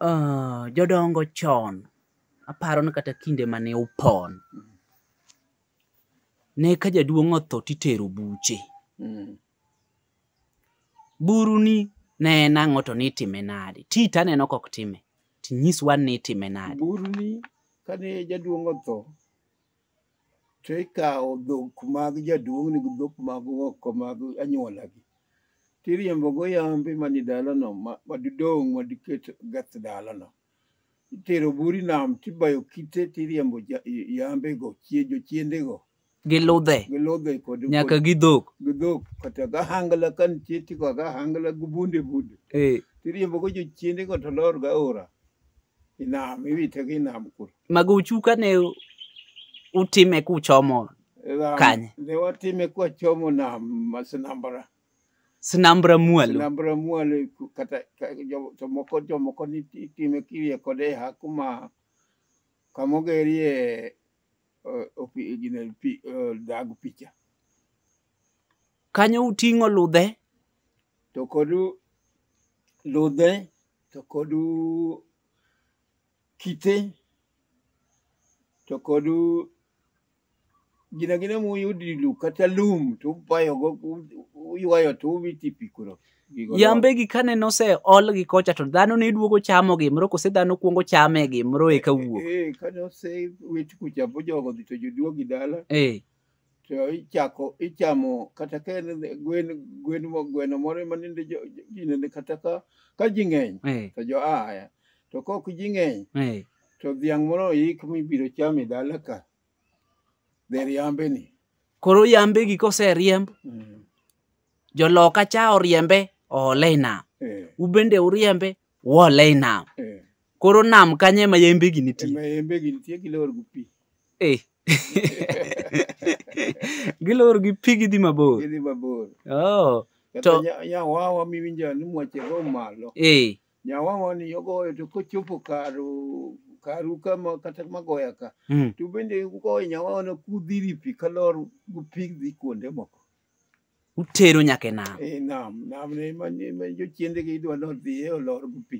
Ah, jodongo chon aparo ni kata kinde mane upon ne ka jaduong' otho titero buche Mm. buru ni ne en ang'o to nitime nade ti taneno kok time tinyiswa ni itime nade Buru ni kane jaduong' otho to ikawo dhok mag jaduong' ni dhok mag oko mag anyuolagi tiriembogo yambe mani dalano ma- madidong' madiket gath dalano itero buri nam tibayo kite tiriembo ja- yambego chie- jochiendego gi ludhe gi ludhe kod nyaka kod- gi dhok gi dhok kata gahangla ka nitie tiko gahangla gi bunde bunde eh, tiriembogo jochiendego to lorga ora inam iwite gi nam kuro magochu kane utime kuchomo Nam- Kanye? ne watime kwachomo nam ma sinambara sinambra mwalo sinambara mwalo ku- kata ka- jo- to moko jomoko ni ti- itime kirie kode ha kuma kamogerie eh, opi- gine pi- eh, dag picha kanyo uting'o ludhe to kodu ludhe to kodu kite to kodu gina gina muyudi lu kata lum to ubayo go u- uywayo to uwiti pi kuro Gigo yambegi kane nose olgi kocha to dhano ne duogo chamo gimro kose dhano kuongo chame gimro eka wuok Eh, kane osewit kucha bo jogo dhi to joduogi dala eh to ichako ichamo kata ka en gwen gwen mo gweno moro ma ninde jo jo- ji nende kata ka ka ji ng'eny eh, to jo aya to kok ji ng'eny eh, to dhiang' moro oik mibiro cham e dala ka dher yambe ni koro yambe gi koseriemb Mm. joloka cha oriembe oole e nam Eh, ubende uriembe wole i nam Eh, koro nam kanye ma yembe gi e nitie ma yembe gi nitie gilor gi pi Eh. gilor gi pi gidhi mabor gidhi mabor oh. kata To- nya- nyawawa miwinjo ni mwache go malo eh. nyawawa ni ogoyo to kochopo karu karu kama kata magoya ka mm. to bende ugoyo nyawawa no kudhiri pi kalor gi pi dhi kuonde moko utero nyaka e nam Eh, nam nam ne ma ne ma jochiendegi idwa nodhiye olor gi pi